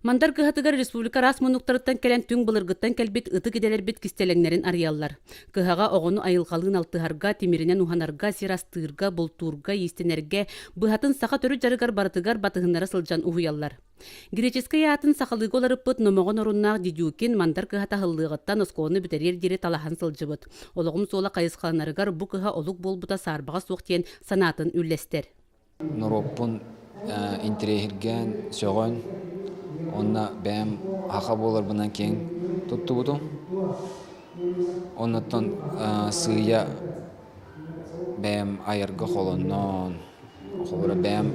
Мандар кыһатыгар республика рас мунуктарыттан кэлэн түҥ былыргыттан кэлбит ытык идэлэрбит кистэлэҥнэрин арыйаллар. Кыһаҕа оҕону айылҕалыын алтыһарга, тимиринэн уһанарга, сир астыырга, бултуурга, иистэнэргэ, быһатын саха төрүт дьарыгар барытыгар батыһыннара сылдьан уһуйаллар. Греческэй аатын сахалыыга уларыппыт Номоҕон оруннаах Дедюкин мандар кыһата аһыллыаҕыттан оскуоланы бүтэриэр диэри талаһан сылдьыбыт. Олоҕум суола хайысхаланарыгар бу кыһа олук буолбута саарбаҕа суох диэн санаатын үллэстэр. Норуоппун интириэһиргээн, сөҕөн, уонна бэйэм аха буоларбынан киэҥ туттубутум. Оннуттан сыыйа бэйэм айарга холонноон, холобура бэйэм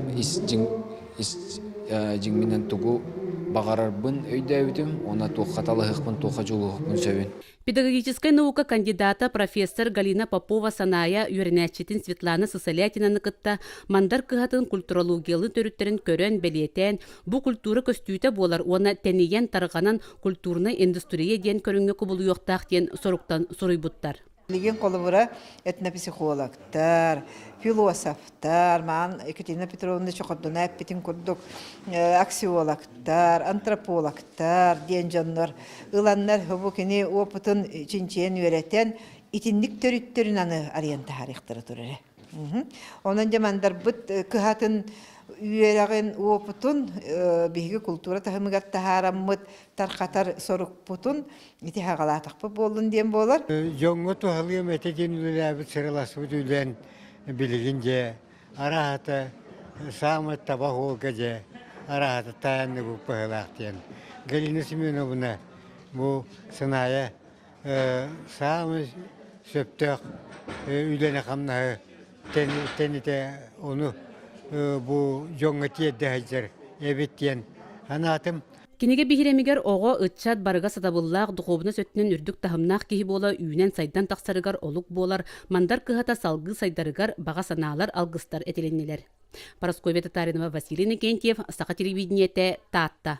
дьиҥинэн тугу баҕарарбын өйдөөбүтүм уонна туохха талаһыахпын, туохха дьулуһуохпун сөбүн. Педагогическай наука кандидата, профессор Галина Попова-Санаайа үөрэнээччитин Светлана Сысолятинаны кытта Мандар кыһатын культурологиялыы төрүттэрин көрөн, бэлиэтээн, бу культура көстүүтэ буолар уонна тэнийэн, тарҕанан культурнай индустрия диэн көрүҥҥэ кубулуйуохтаах диэн соруктан суруйбуттар. Миигин холобура этнопсихологтар, философтар, Армаан Екатерина Петровна Чохордуна эппитин курдук аксиологтар, антропологтар диэн дьоннор ыланнар бу кини опытын чинчийэн үөрэтэн итинник төрүттөрүн аны арыйан таһарыахтара турара. Онон дьэ мандарбыт кыһатын үөрэҕин опытун биһиги култуура таһымыгар таһаараммыт тархатар сорукпутун итиһаҕалаатахпыт буоллун диэн буолар. Дьоҥҥо туһалыам этэ диэн үлэлээбит сыраласпыт үлэн Билигин дьэ арааһата саамай таба оһуолга дьэ арааһата таайанны бу быһылаах диэн Галина Семеновна бу сынаайа саамай сөптөөх үлэни хамнаһы тэнитэ ону бу дьоҥҥо тиэрдэ сылдьар эбит диэн санаатым Кинигэ биһирэмигэр оҕо, ыччат барыга сатабыллаах, духуобунас өттүнэн үрдүк таһымнаах киһи буола үүнэн-сайдан тахсарыгар олук буолар Мандар кыһата салгыы сайдарыгар баҕа санаалар, алгыстар этилиннилэр. Парасковья Татаринова, Василий Иннокентьев, Саха телевидениете, Таатта.